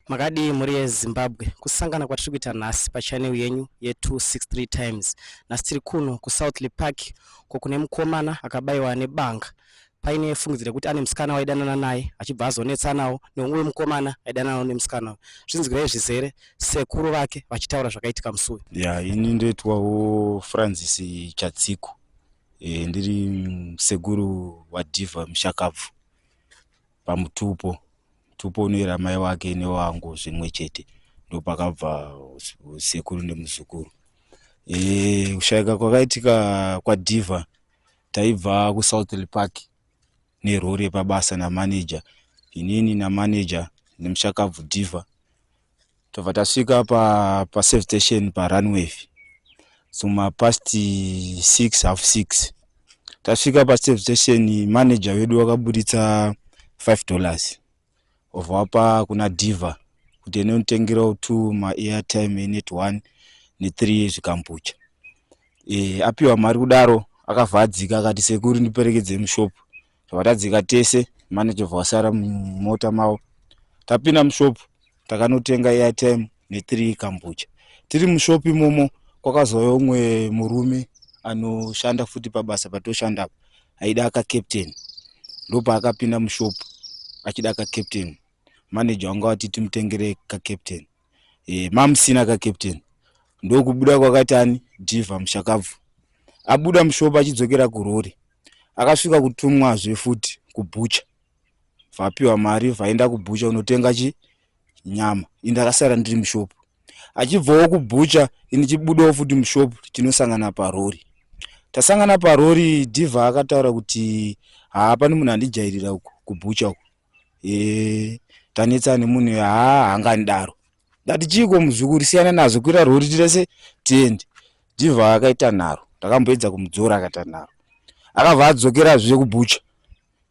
Makadii mhuri yeZimbabwe, kusangana kwatiri kuita nhasi pachanel yenyu ye263 times. Nhasi tiri kuno kuSouthley Park ko kune mukomana akabayiwa nebanga paine fungidziro yekuti ane musikana waidanana naye achibva azonetsanawo neumwe mukomana aidananawo nemusikana uyu. Zvinzwirai zvizere sekuru vake vachitaura zvakaitika musi uyu. Ya, ini ndoitwawo Francis Chatsiku. E, ndiri sekuru waDiva Mushakabvu. pamutupo mutupo unoyera mai wake newangu zvimwe chete ndopakabva sekuru nemuzukuru e, kushayika kwakaitika kwadhiva taibva kusouthly park nerori yepabasa namanager inini namanager nemushakabvu dhiva tobva tasvika pa, pa safe station parunway suma past six half six tasvika pasafe station manager wedu wakaburitsa five dollars obva wapa kuna diva kuti ene unotengerawo two maairtime enet one nethree zvikambucha e, apiwa mari kudaro akavhadzika akati sekuri ndiperekedze mushop tobva tadzika tese mane tobva wasara mumota mavo tapinda mushopu takanotenga airtime nethree kambucha tiri mushopu imomo kwakazouya umwe murume anoshanda futi pabasa patoshanda apa aida akacaptain ndopaakapinda mushopu achida kacaptain manager wanga wati timutengere kacaptain e, mamusina ka captain ndokubuda kwakatani diva mushakabvu abuda mushopa achidzokera kurori akasvika kutumwazve futi kubhucha vapiwa mari vaenda kubhucha unotenga chi nyama ini ndakasara ndiri mushopu achibvawo kubhucha ini chibudawo futi mushopu tinosangana parori tasangana parori diva akataura kuti haapani munhu andijairira uku kubhucha uku e, tanetsa nemunhu uyu haa hanganidaro ndati chiiko muzukuri siyana nazvo kuira rori tirese tiende jivha akaita nharo ndakamboedza kumudzora akaita nharo akabva adzokera zviye kubucha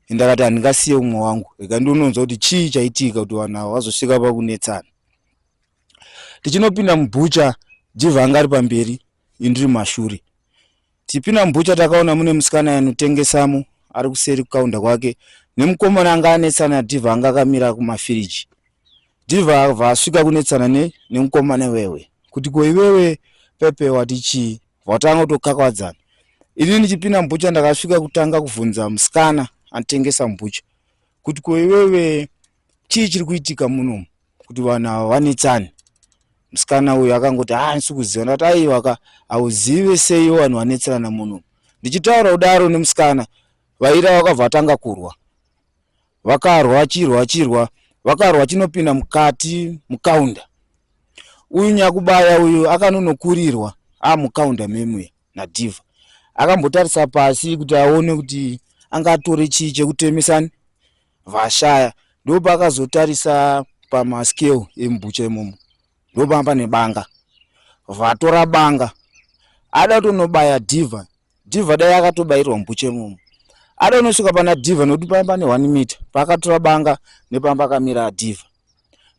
ende akati handingasiye umwe wangu rega ndiononzwa kuti chii chaitika kuti vanhu ava vazosvika pakunetsana tichinopinda mubucha jivha anga ari pamberi indiri mashure Tipina mbucha takaona mune musikana anotengesamo ari kuseri kukaunda kwake nemukomana anga anetsana diva anga akamira kumafiriji diva avha asvika kunetsana ne nemukomana wewe kuti ko iwewe pepe wati chii vatanga kutokakakwadzana ini ndichipina mbucha ndakasvika kutanga kuvhunza musikana anotengesa mbucha kuti ko iwewe chii chiri kuitika munomu kuti vanhu ava vanetsani musikana uyu akangoti ha ah, ndisi kuziva ndati aiwa ka hauzive seiwo vanhu vanetserana munomu ndichitaura kudaro nemusikana vaira vakabva vatanga kurwa vakarwa vachirwa vachirwa vakarwa chinopinda mukati mukaunda uyu nyakubaya uyu akanonokurirwa amukaunda memwe nadhiva akambotarisa pasi kuti aone kuti angatore chii chekutemesani vashaya ndopakazotarisa pamascale emubucha imomo ndopanga pane banga vatora banga ada kutonobaya diva diva dai akatobairwa mubucha imomo ada unosvika pana diva nokuti paa pane one meter paakatora banga nepamba akamira adiva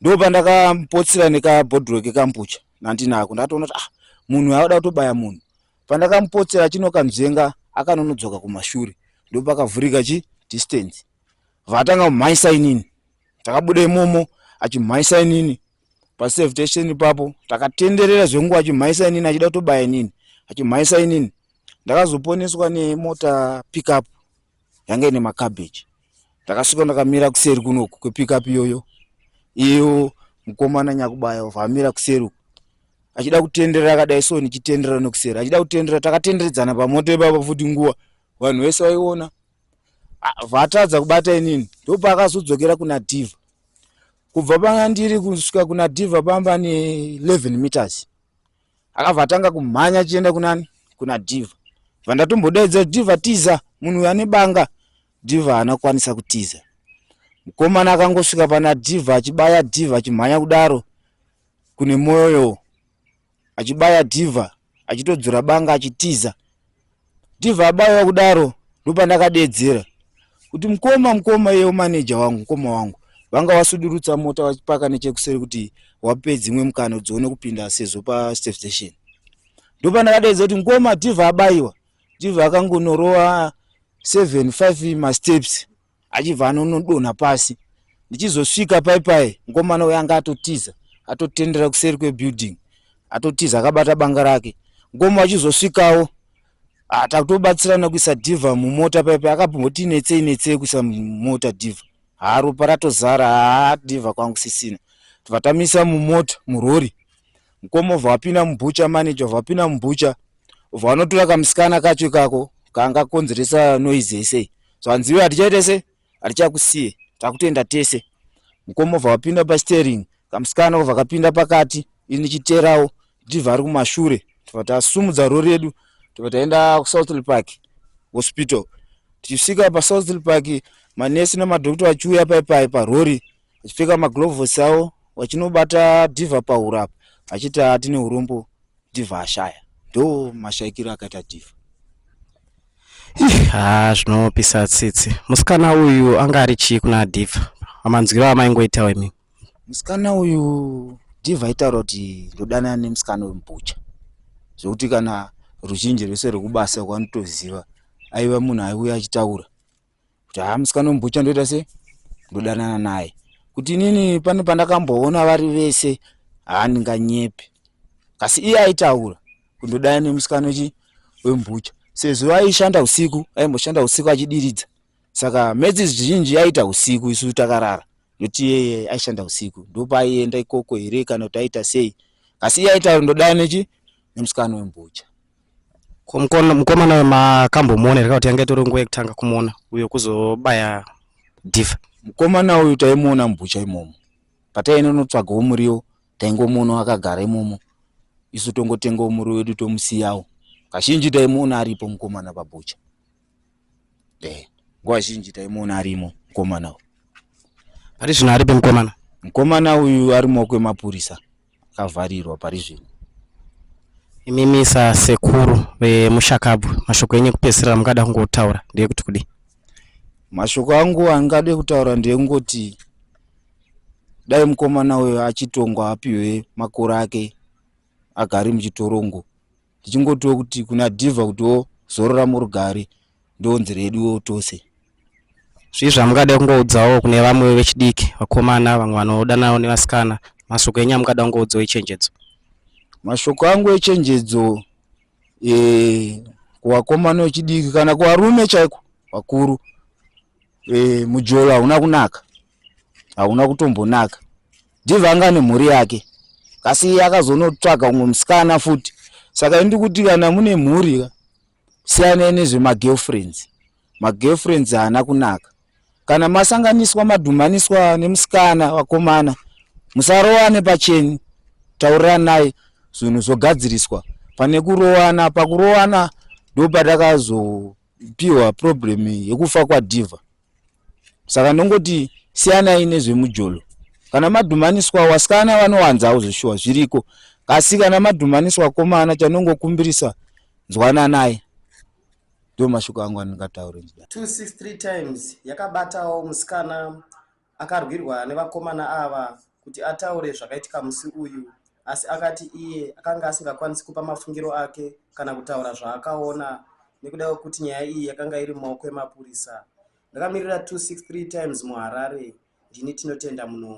ndo pandakapotsira nekabhodhiro kekambucha nandinako ndatoona kuti ah munhu aada kutobaya munhu Pandakamupotsera achinokanzvenga akanonodzoka kumashure ndopakavhurika chi distance. Vatanga kumhaisa inini. Takabuda imomo achimhaisa inini paserve station ipapo takatenderera zvenguva achimhaisa inini achida kutobaya inini achimhaisa inini ndakazoponeswa nemota pickup yanga ine macabbage ndakasvika ndakamira kuseri kunoku kwepikup iyoyo iyo mukomana nyakubaya vamira kuseri uku achida kutendera akadai so ndichitendera nokuseri achida kutendera takatenderedzana pamoto ipapa futi nguva vanhu vese vaiona vatadza kubata inini ndopaakazodzokera kuna diva kubva panga ndiri kusvika kuna diva pamba ne 11 meters akabva atanga kumhanya achienda kunani kuna diva bva ndatombodaidza diva tiza munhu uyo ane banga diva haana kukwanisa kutiza mukomana akangosvika pana diva achibaya diva achimhanya kudaro kune mwoyo achibaya diva achitodzura banga achitiza ndibva abaiwa kudaro ndopandakadeedzera kuti mukoma mukoma iyewo maneja wangu mukoma wangu vanga vasudurutsa mota vachipaka nechekuseri kuti wape dzimwe mukana kuti dzione kupinda sezvo pasafe station ndopandakadeedza kuti mukoma diva abaiwa diva akangonorova seven five masteps achibva anonodonha pasi ndichizosvika pai pai mukomana uyo anga atotiza atotendera kuseri kwebuilding atotiza akabata banga rake ngomo achizosvikawo ah, takutobatsirana kuisa diva mumota pai pai akamboti netsei netsei kuisa mumota diva haa ropa ratozara haa diva kwangu sisina tvatamisa mumota murori Mkoma obva apinda mubhucha, manager obva apinda mubhucha obva anotora kamusikana kacho ikako kanga konzeresa noise yese so hanziwe hatichaita se hatichakusiye takutenda tese mukoma obva vapinda pastering kamusikana obva kapinda pakati ini chiterawo ndibva ari kumashure tobva tasumudza rori yedu tobva taenda kusouthly park hospital tichisvika pasouthly park manesi nemadokto achiuya paipai parori vachipfeka magloves avo vachinobata diva pahuro apa vachiti atine urombo diva ashaya ndo mashaikiro akaita diva ha zvinopisa tsitsi musikana uyu anga ari chii kuna diva amanzwiro amaingoitawo imi musikana uyu diva aitaura kuti ndodanana nemusikana uyu mbucha zvekuti kana ruzhinji rwese rwekubasa kwanotoziva aiva munhu aiuya achitaura kuti haa musikana wembucha ndoita se ndodanana naye kuti inini pane pandakamboona vari vese haa ndinganyepe kasi iye aitaura kuti ndodana nemusikana chi wembucha sezvo aishanda usiku aimboshanda usiku achidiridza saka medzi zhinji aiita usiku isu takarara ndokuti iyeye aishanda usiku ndopaaienda ikoko here kana kuti aita sei asi iye aitaura ndodana nechi nemusikana wembucha Ko mukona- mukomana uyu makambomuona here kana kuti yanga itori nguva yekutanga kumuona uyo kuzobaya dhifa mukomana uyu taimuona mubhucha imomo pataienda kunotsvagawo muriwo taingomuonawo akagara imomo isu tongotengawo muriwo wedu tomusiyawo kazhinji taimuona aripo mukomana pabhucha eh, nguva zhinji taimuona arimo mukomana uyu pari zvino aripe mukomana mukomana uyu ari mumaoko emapurisa akavharirwa pari zvino imimi sasekuru vemushakabvu mashoko enyu ekupedzisira mungada kungotaura ndeyekuti kudii mashoko angu angade kutaura ndeyekungoti dai mukomana uyo achitongwa apiwe makore ake agari muchitorongo tichingotiwo kuti kuna diva kutiwo zorora murugare ndonzi reduwo tose zvii zvamungada kungoudzawo kune vamwe vechidiki vakomana vamwe vanodanawo nevasikana mashoko enyu amungada kungoudzawo echenjedzo mashoko angu echenjedzo e, kuvakomana vechidiki kana kuvarume chaiko vakuru Eh, mujolo hauna kunaka hauna kutombonaka ndiva anga nemhuri yake asi iye akazonotsvaga umwe musikana futi saka indi kuti kana mune mhuri ka siyanai nezvemagirlfriends magirlfriends haana kunaka kana masanganiswa madhumaniswa nemusikana vakomana musarowane pacheni tauriranai zvinhu zvogadziriswa pane kurowana pakurowana ndopatakazo pihwa problem yekufa kwadiva saka ndongoti siyanai nezvemujolo kana madhumaniswa wasikana vanowanzawo zveshuwa zviriko kasi kana madhumaniswa komana chanongokumbirisa nzwananai ndo mashoko angu andingataure 263 times yakabatawo musikana Akarwirwa nevakomana ava kuti ataure zvakaitika musi uyu asi akati iye akanga asingakwanisi kupa mafungiro ake kana kutaura zvaakaona nekuda kwekuti nyaya iyi yakanga iri mumaoko emapurisa. Ndakamirira 263 Times muHarare, ndini Tinotenda Munongo.